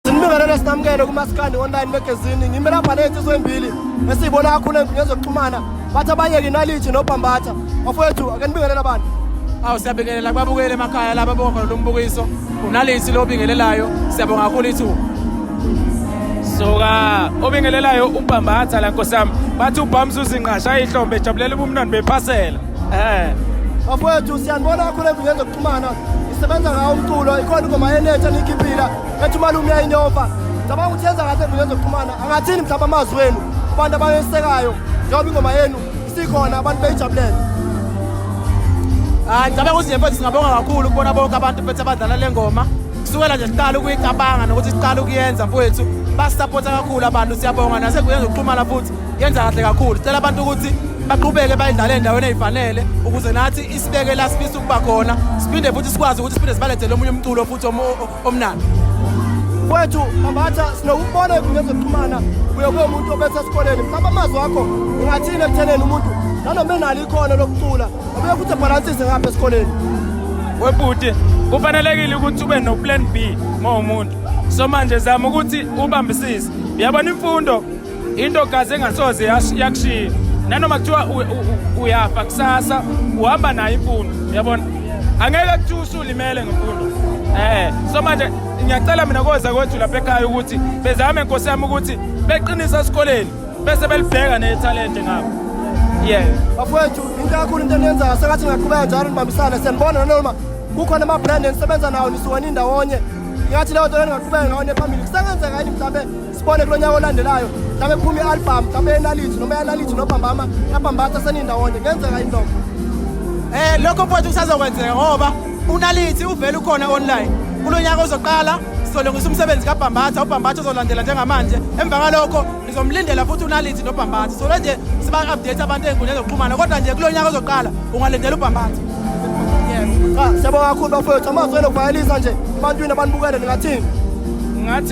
Sinibingelele sinamukele kumasikandi online magazine ngime lapha ney'nsizwa ey'mbili esiyibona kakhulu ey'nkundleni zokuxhumana bathi abayeke inalithi nobhambatha bafowethu ake nibingelele abantu awu siyabingelela kubabukeli emakhaya laba bonga khona lo mbukiso unalithi lo obingelelayo siyabonga kakhulu ithuba suka obingelelayo ubhambatha la nkosi yami bathi ubhamza uzinqasha ihlombe ejabulela ubumnandi bephasela um bafowethu siyanibona kakhulu emvingeni Mana isebenza ngawo umculo ikhona ingoma yenetha nikhiphila ethi umalume uyayinyova cabanga ukuthi yenza ngathi enkundleni zokuxhumana angathini mhlawumbe amazwi wenu abantu abayesekayo njengoba ingoma yenu isikhona abantu beyijabulele hayi ngicabanga ukuthi nje singabonga kakhulu kubona bonke abantu bethu abadlala le ngoma kusukela nje siqala ukuyicabanga nokuthi siqala ukuyenza mfowethu basisapotha kakhulu abantu siyabonga nasenkundleni zokuxhumana futhi yenza kahle kakhulu sicela abantu ukuthi baqhubeke bayidlale endaweni eyifanele ukuze nathi isibeke la sifisa kuba khona siphinde futhi sikwazi ukuthi siphinde sibalethele omunye umculo futhi omnandi kwethu mabatha sinokubona kungezokuxhumana kuye kuye umuntu obese esikoleni mhlawumbe amazwi akho ungathini ekutheneni umuntu nanoma enalo ikhono lokucula obuye futhi ebhalansise ngapha esikoleni webhuti kufanelekile ukuthi ube no-plan b ma umuntu so manje zama ukuthi ubambisise uyabona imfundo into kaze engasoze yakushiya nanoma kuthiwa uyafa kusasa uhamba nayo imfundo uyabona angeke kuthiwa usulimele ngemfundo eh so manje ngiyacela mina koza kwethu lapha ekhaya ukuthi bezame nkosi yami ukuthi beqinisa esikoleni bese belibheka nethalente ngabo yeah bafowethu into kakhulu into eniyenzayo sengathi ngaqhubeka njalo nibambisane siyanibona nanoma kukhona ama-brand enisebenza nawo nisuke nindawonye ngathi leyo nto lengaqhubeka ngawo nephambili kusengenzeka yini mhlawumbe sibone kulo nyaka olandelayo mhlawumbe kuphuma i-albhamu mhlawumbe yenalithi noma yanalithi nobhambama yabhambatha senindawonye kuyenzeka yini lokho um lokho futhi kusazokwenzeka ngoba unalithi uvele ukhona online kulo nyaka ozoqala sizolungisa umsebenzi kabhambatha ubhambatha uzolandela njengamanje emva kalokho ngizomlindela futhi unalithi nobhambatha solo nje siba-update abantu ey'nkundleni zokuxhumana kodwa nje kulo nyaka ozoqala ungalindela ubhambatha yes siyabonga kakhulu bafowethu amazwi elokuvayelisa nje ebantwini abanibukele ningathini ngathi